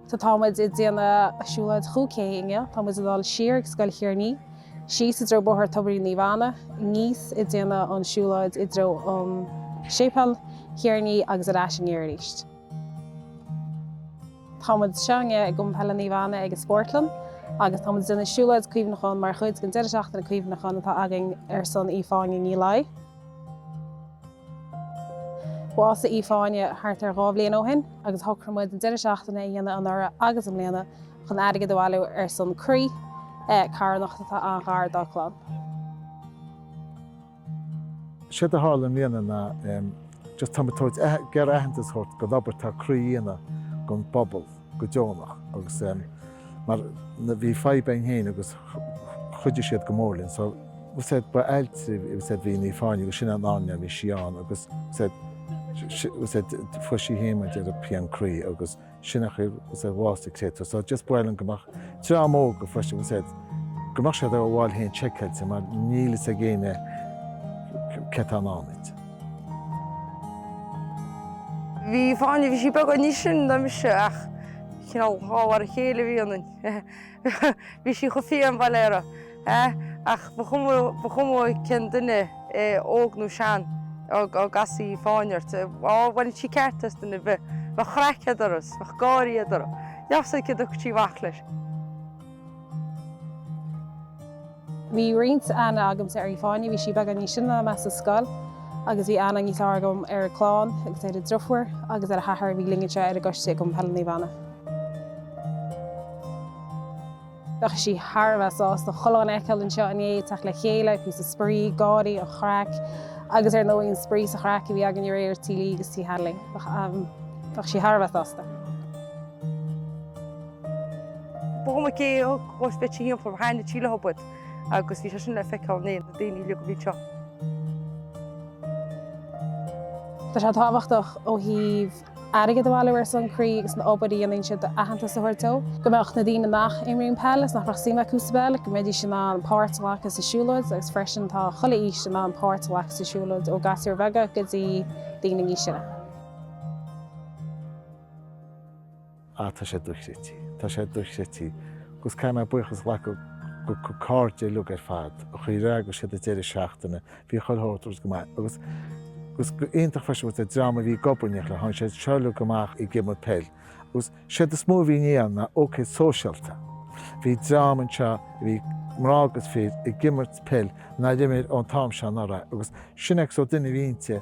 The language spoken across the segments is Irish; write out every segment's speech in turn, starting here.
Tá, tá muid ag déanamh siúlóid chúig K inniu. Tá muid ag dul siar ag Scoil Thír an Fhia, síos i dtreo Bóthar Tobairín Naomh Anna, aníos ag déanamh an siúlóid i dtreo Séipéal Thír an Fhia agus ar ais aniar arís. Tá muid anseo inniu ag Cumann Peile Naomh Anna ag an Spórtlann agus tá muid ag déanamh siúlóid cuimhneacháin mar chuid den Deireadh Seachtaine Cuimhneacháin atá againn ar son Aoife Áine Ní Laigh. Bhásaigh Aoife Áine thart ar dhá bhliain ó shin agus shocraigh muid an deireadh seachtaine a dhéanamh anuraidh agus i mbliana chun airgead a bhailiú ar son Croí carthanacht atá an-ghar dá clann. Séard a tharla i mbliana ná just tá muid ag tabhairt, ag iarraidh aitheantas a thabhairt don obair atá Croí a dhéanamh don bpobal. go deonach agus mar bhí fadhb againn féin agus chuidigh siad go mór linn so we said ba ailt we said bhí Ní Fáinne agus sin an am a bhí sí ann agus we said we said fuair sí hiomaint ar an pian croí agus sin ach we said bhásaigh Cleto so just baol linn go mbeadh dream óga freisin we said go mbeadh siad ar a bhfáil féin seiceáilte mar níl fhios ag éinne cé tá in ann iad. Aoife Áine, bhí sí beagán níos sine ná mise ach cineál dhá mhar a chéile a bhí ionainn. Bhí sí chomh fiáin, Valera, ach ba chuma, ba chuma cén duine é, óg nó sean, dá gcasfadh Aoife Áine ort, á, bhainfeadh sí ceart as duine ar bith. Bheadh an chraic eatarthu, bheadh gáirí eatarthu. Níl a fhios agat céard a dtiocfadh sí amach leis. Bhí roinnt aithne agamsa ar Aoife Áine, bhí sí beagán níos sine ná mé sa scoil agus bhí aithne níos fearr agam ar a clann agus ar a driofúr agus ar a hathair a bhí linn anseo ar an gcoiste i gCumann Peile Naomh Anna. Bheadh sí thar a bheith sásta chuile dhuine a fheiceáil anseo inné, ag teacht le chéile, píosa spraoi, gáirí, an chraic agus ar ndóigh an spraoi is an chraic a bhí againn aréir Tigh Lee agus Tigh Hanley. Bheadh sí thar a bheith sásta. B'iomaí gé agus beirt a shíl Aoife Áine Síle Hubbard agus bhí sé sin le feiceáil inné, na daoine uilig a bhí anseo. Tá sé tábhachtach ó thaobh airgead a bhailiú ar son croí agus an obair a dhéanann siad aitheantas a thabhairt dó. Go mbeadh na daoine nach n-imríonn peil agus nach mbeadh suim acu sa bpeil, go mbeidís in ann páirt a ghlacadh sa siúlóid agus freisin tá chuile aois in ann páirt a ghlacadh sa siúlóid ó gasúir bheaga go dtí daoine níos sine. ah tá sé dochreidte, tá sé dochreidte agus caithfidh mé buíochas a ghlacadh dá cairde uilig ar fad an chaoi ar eagraigh siad an deireadh seachtaine, bhí chuile shórt agus go maith agus agus go hiontach freisin agus an dream a bhí ag obair in éineacht léi tháinig siad seo uilig amach ag imirt peil agus séard is mó a bhí inné ann ná ócáid sóisialta, bhí dream anseo a bhí mná agus fir ag imirt peil nár imir ón t-am seo anuraidh agus sin é an sórt duine a bhí inti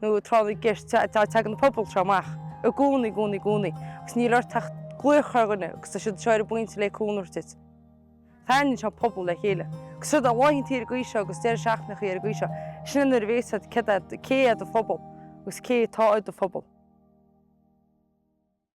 nó tráth na gceist, tagann an pobal seo amach i gcónaí, i gcónaí, i gcónaí, agus níl ort ach glaoch ar dhuine agus tá siad seo ar an bpointe le cúnamh duit. Tarraingíonn sé an pobal le chéile. Agus siúd é laethantaí ar an gcaoi seo agus deireadh seachtaine ar an gcaoi seo, sin é nuair a bhéas a fhios agat céard é, cé é do phobal agus cé atá i do phobal.